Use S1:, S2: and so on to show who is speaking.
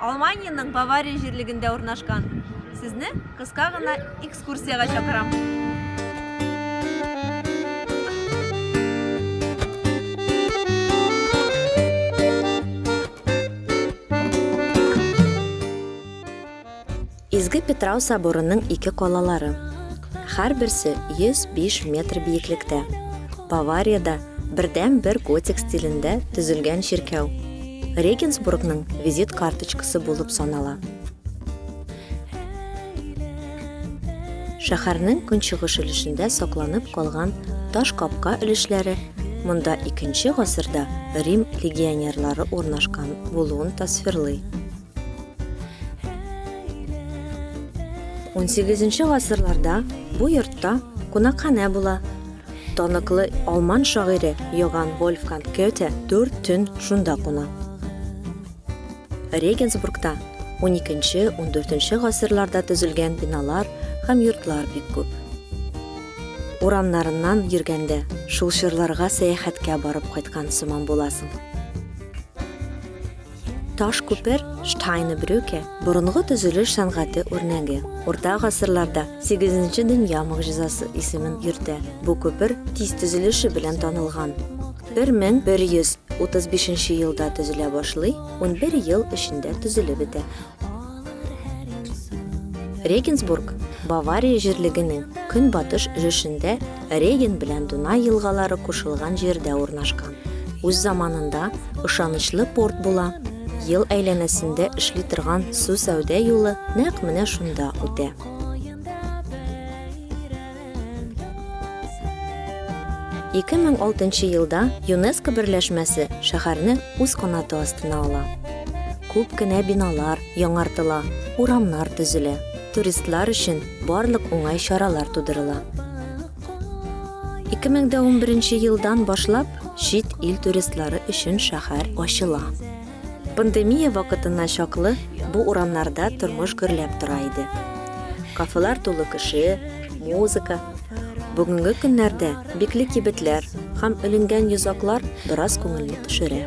S1: Алманиянең Бавария җирлегендә урнашкан. Сезне кыска гына экскурсиягә чакырам. Изге Питрау соборының ике калалары, һәрберсе 105 метр биеклектә, Бавариядә бердәнбер готик стилендә төзелгән чиркәү, Регенсбургның визит карточкасы булып санала. Шәһәрнең көнчыгыш өлешендә сакланып калган таш капка өлешләре монда 2 нче гасырда Рим легионерлары урнашкан булуын тасвирлый. 18 гасырларда бу йортта кунакханә була. Таныклы алман шагыйре Йоган Вольфганг Гёте дүрт төн шунда куна. Регенсбургта 12-14 гасырларда төзелгән биналар һәм йортлар бик күп. Урамнарыннан йөргәндә, шул чорларга сәяхәткә барып кайткан сыман буласың. Таш күпер, Штайны брюке, борынгы төзелеш сәнгате үрнәге. Урта гасырларда сигезенче дөнья могҗизасы исемен йөртә. Бу күпер тиз төзелеше белән танылган. 1135 елда төзелә башлый, унбер ел эчендә төзелеп бетә. Регенсбург, Бавария җирлегенең көнбатыш өлешендә Реген белән Дунай елгалары кушылган җирдә урнашкан. Үз заманында ышанычлы порт була. Ел әйләнәсендә эшли торган су сәүдә юлы нәкъ менә шунда үтә. Ике мең алтынчы елда ЮНЕСКО берләшмәсе шәһәрне үз канаты астына ала. Күп кенә биналар яңартыла, урамнар төзелә. Туристлар өчен барлык уңай чаралар тудырыла. 2011 елдан башлап чит ил туристлары өчен шәһәр ачыла. Пандемия вакытына чаклы бу урамнарда тормыш гөрләп тора иде. Кафелар тулы кеше, музыка. Бүгенге көннәрдә бикле кибетләр һәм өленгән йозаклар бераз күңелне төшерә.